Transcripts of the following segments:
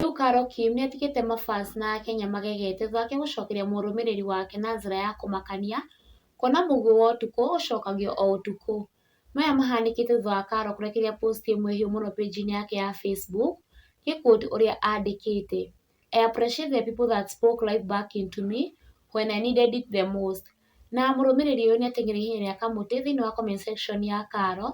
Rĩu Carol Kim nĩ atigĩte mafans na Akenya magegete thutha wake gũcokeria mũrũmĩrĩri wake na njĩra ya kũmakania kuona mũguĩ wa ũtukũ ũcokagio o ũtukũ. Maya mahanĩkĩte thutha wa Carol kũrekereria post ĩmwe hĩũ mũno page-inĩ yake ya Facebook gĩ quote ũrĩa andĩkĩte, I appreciate the people that spoke life back into me when I needed it the most. Na mũrũmĩrĩri ũyũ nĩ ateng'ereire ihenya rĩa kamũtĩ thĩinĩ wa comment section ya Carol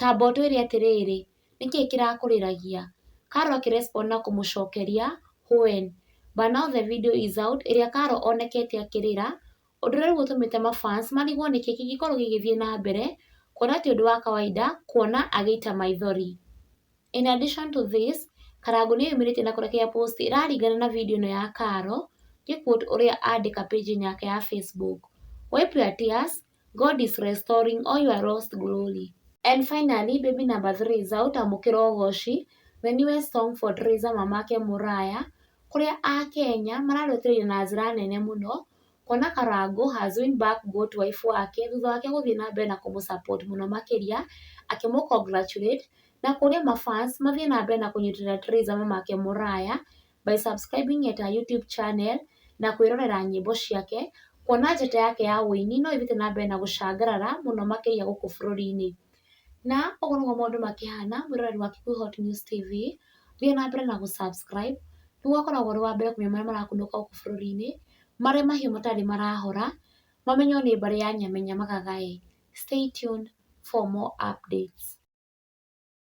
ta mbotu ĩrĩ atĩrĩrĩ, nĩkĩĩ kĩrakũrĩragia? Karo akĩ respond na kũmũcokeria, Huen. But now the video is out ĩrĩa Karo onekete akĩrĩra, ũndũ ũrĩa rĩu ũtũmĩte ma fans marigwo nĩkĩ kĩngĩkorwo gĩgĩthiĩ na mbere, kuona ti ũndũ wa kawaida kuona agĩita maithori. In addition to this, Karangũ nĩ eyumĩrĩtie na kũrekereria post ĩraringana na video ĩno ya Karo, ngĩ quote ũrĩa andĩka page -inĩ yake ya Facebook, Wipe your tears, God is restoring all your lost glory. And finally, baby number three, Zaut amũkĩra ũgoci, the newest song for Teresa Mamake Mũraya, kũrĩa Akenya mararũtĩrĩria na njĩra nene mũno, kuona Karangũ has win back goat wife wake thutha wake gũthiĩ na mbere na kũmũ support mũno makĩria, akĩmũ congratulate, na kũria ma fans mathiĩ na mbere na kũnyitĩrĩra Teresa Mamake Mũraya, by subscribing at her YouTube channel na kwĩrorera nyĩmbo ciake, kuona njata yake ya ũini no ĩthiĩte na mbere na gũcangarara mũno makĩria gũkũ bũrũri-inĩ. Na ũguo nĩguo maũndũ makĩhana mwĩroreri wa Kikuyu News TV, thiĩ na mbere na gũ subscribe nĩguo ũkoragwo ũrĩ wa mbere kũmenya marĩa marakunũka gũkũ bũrũri-inĩ, marĩa mahiũ matarĩ marahora, mamenywo nĩ mbarĩ ya Nyamenya Magagai. Stay tuned for more updates.